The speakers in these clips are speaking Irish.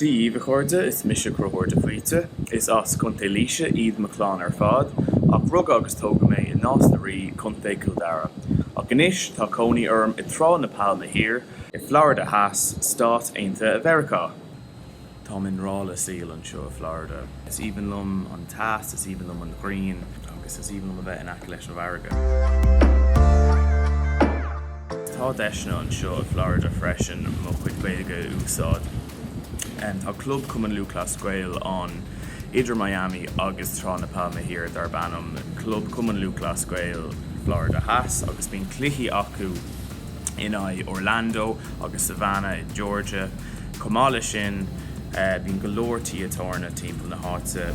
Dia daoibh a chairde, is mise Conchúr de Faoite. Is as Contae Laoise iad mo chlann ar fad, ach rugadh agus tógadh mé i Nás na Rí, Contae Chill Dara. Ach anois tá cónaí orm i Trá na Pailme Thiar, i Florida Theas, Stáit Aontaithe Mheiriceá. Táim i ngrá leis an saol anseo i Florida. Is aoibhinn liom an teas, is aoibhinn liom an ghrian agus is aoibhinn liom a bheith in aice leis an bhfarraige. Tá deiseanna anseo i Florida freisin mo chuid Gaeilge a úsáid. Tá club Cumann Lúthchleas Gael ann idir Miami agus Trá na Pailme Thiar darb ainm Club Cumann Lúthchleas Gael Florida Theas agus bíonn cluichí acu in aghaidh Orlando agus Savannah i Georgia. Chomh maith leis sin, bíonn go leor tithe tábhairne timpeall na háite.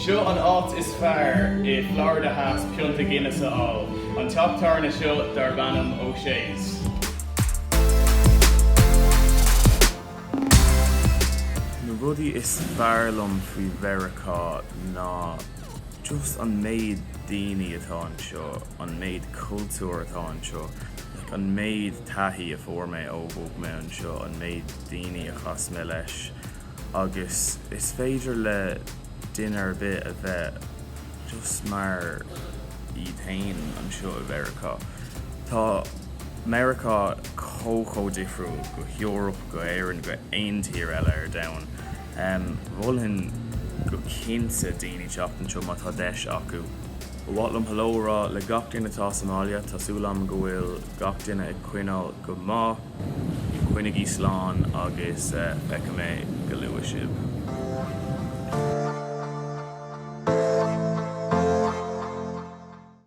Seo an áit is fearr i Florida Theas pionta Guinness a fháil, an teach tábhairne seo darb ainm O'Shea's. Na rudaí is fearr liom faoi Mheiriceá ná just an méid daoine atá anseo. an méid cultúr atá anseo, like an méid taithí a fuair mé ó bhog mé anseo, an méid daoine a chas mé leis agus is féidir le duine ar bith a bheith just mar iad féin anseo i Mheiriceá. Tá Meiriceá chomh, chomh difriúil go hEoraip, go hÉirinn, go aon tír eile ar domhan. Mholfainn go cinnte daoine teacht anseo má tá deis acu. Ba mhaith liom hello a rá le gach duine atá sa mbaile. Tá súil agam go bhfuil gach duine ag coinneáil go maith. Coinnigí slán agus feicfidh mé go luath sibh.